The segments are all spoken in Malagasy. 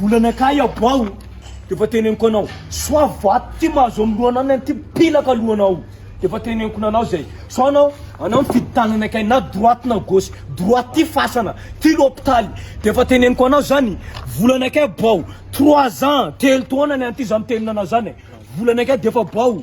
Volana kay aboaho defa teneniko anao soa vato ty mahazo am lohananao ity pilaka lohanao defa teneniko nanao zay sao anao anao mifidy tanana kay na droite na gauche droite ty fasana ty lopitaly defa teneniko anao zany volana kay aboaho trois ans telo taona ny anty za mitenina anao zany volana kay defa aboaho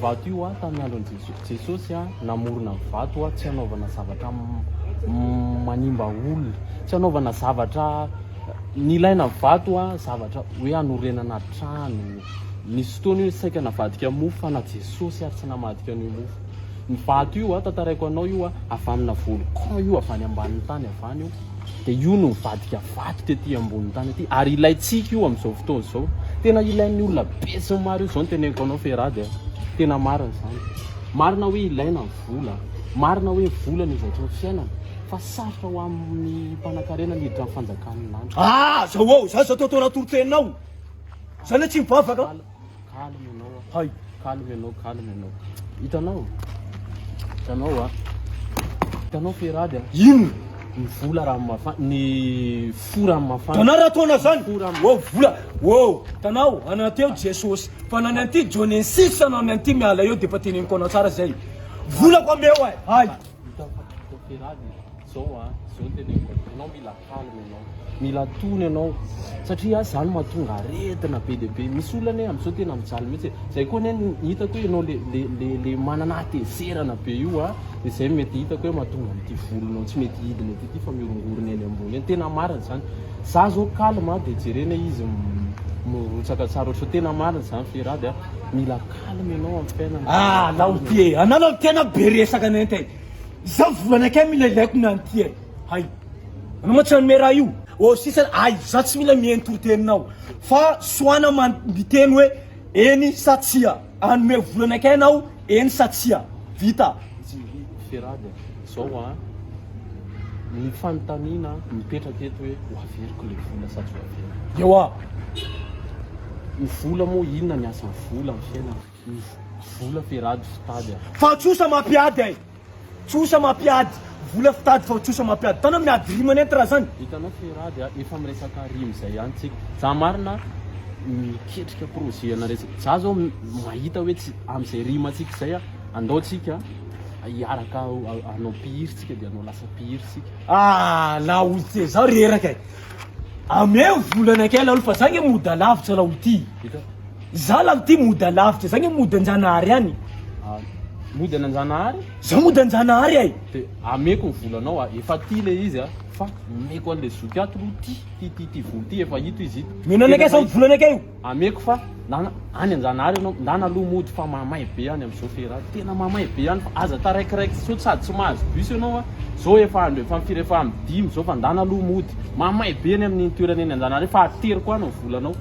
Vato io a tamin'ny andron'i Jesosy. Jesosy a namorona ny vato a tsy hanaovana zavatra manimba olona, tsy hanaovana zavatra nilaina vato a zavatra hoe hanorenana trano. Nisy fotoana io saika navadika mofo fa na Jesosy ary tsy namadika an'io mofo. Ny vato io a tantaraiko anao io a avy amina volcan io avy any ambanin'ny tany avy any io. dia io no hivadika vato tety ambony tany ety ary ilaintsika io amin'izao fotoana izao tena ilain'ny olona be sy ny maro io izao ny teneniko anao Ferrad eh tena marina izany marina hoe ilaina ny vola marina hoe vola ny zavatra ny fiainana fa sarotra ho amin'ny mpanakarena ny hiditra ny fanjakan'ny lanitra ah zao ao zany zao tao tao anatory teninao zany tsy mivavaka Calme ianao a. Hay! Calme ianao, calme ianao. Hitanao? Hitanao a. Hitanao fe rad a. Inona? Ny vola raha mafana, ny fo raha mafana. Tanao raha toana zany. Fo raha mafana. Wow, vola. Wow, tanao ananty eo Jesosy. Fa nany anty Jonesis anao ny anty miala eo dia efa teneniko anao tsara zay. Volako ameo ay. Hay! Hitanao? Hitanao fe rad e. Zao a. Zao ny teneniko anao. Ianao mila Calme ianao, mila tony ianao satria ah zany mahatonga aretina be dia be, misy olona anie amin'izao tena mijaly mihitsy e, izay koa anie ny hitako hoe ianao le le le le manana hatezerana be io ah, dia izay no mety hitako hoe mahatonga an'ity volonao tsy mety hidina ety ity fa mihorongorona eny ambony eny, tena marina izany, za izao calme ah dia jerena izy mirotsaka tsara ohatr'izao, tena marina izany Ferrade ah, mila calme ianao amin'ny fiainana, ah laoty e, anao laoty tena be resaka nenita e, izao volana kay mila ilaiko ny an'ity e. Hay. Anao mantsy hanome raha io. Ô sisa ay za tsy mila miheno toriteninao fa soana man miteny hoe eny sa tsia. Hanome vola anakay anao eny sa tsia. Vita. Tsy ry Ferrad zao a! Ny fanontaniana mipetraka eto hoe ho averiko ilay vola sa tsy ho averiko. Ewa. Ny vola moa inona ny asan'ny vola amin'ny fiainana? Vola firaty fitady a. Fa tsosa mampiady ay. Tsosa mampiady. Vola fitady fa tsosa mampiady. Tana miady rima nenty raha zany. Hitanao Firaty a, efa miresaka rima zay ihany tsika. Za marina miketrika projet ana resaka. Za zao mahita hoe tsy amzay rima tsika zay a, andao tsika hiaraka hanao mpihira tsika de hanao lasa mpihira tsika. Ah la olotse zaho reraka e! Ameo vola anakay laolo fa za nge mody alavitra laolo ty. Za lany ty mody alavitra zany hoe mody anjanahary any. Ah, mody any anjanahary? Za mody anjanahary ay. De ameko ny volanao a, efa ty le izy a, fa omeko anle zoky ato lo ty, ty ty ty vola ty efa hito izy ito. Mino anakay zany volanakay io. Ameko fa ndana any anjanahary enao, ndana aloha mody fa mamay be any amzao fera a, tena mamay be any fa aza taraikiraiky sao sady tsy mahazo bus enao a, zao efa andro efa firy efa am dimy zao fa ndana aloha mody, mamay be any aminy toerana eny anjanahary fa ateriko any ny volanao.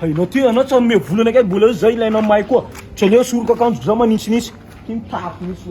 Hainao ty anao tsy hanome vola anakay mbola eo zay ilainao mahay koa. Tsy aleo soroko akanjoko za manintsinintsy. Ty mitafy mihitsy.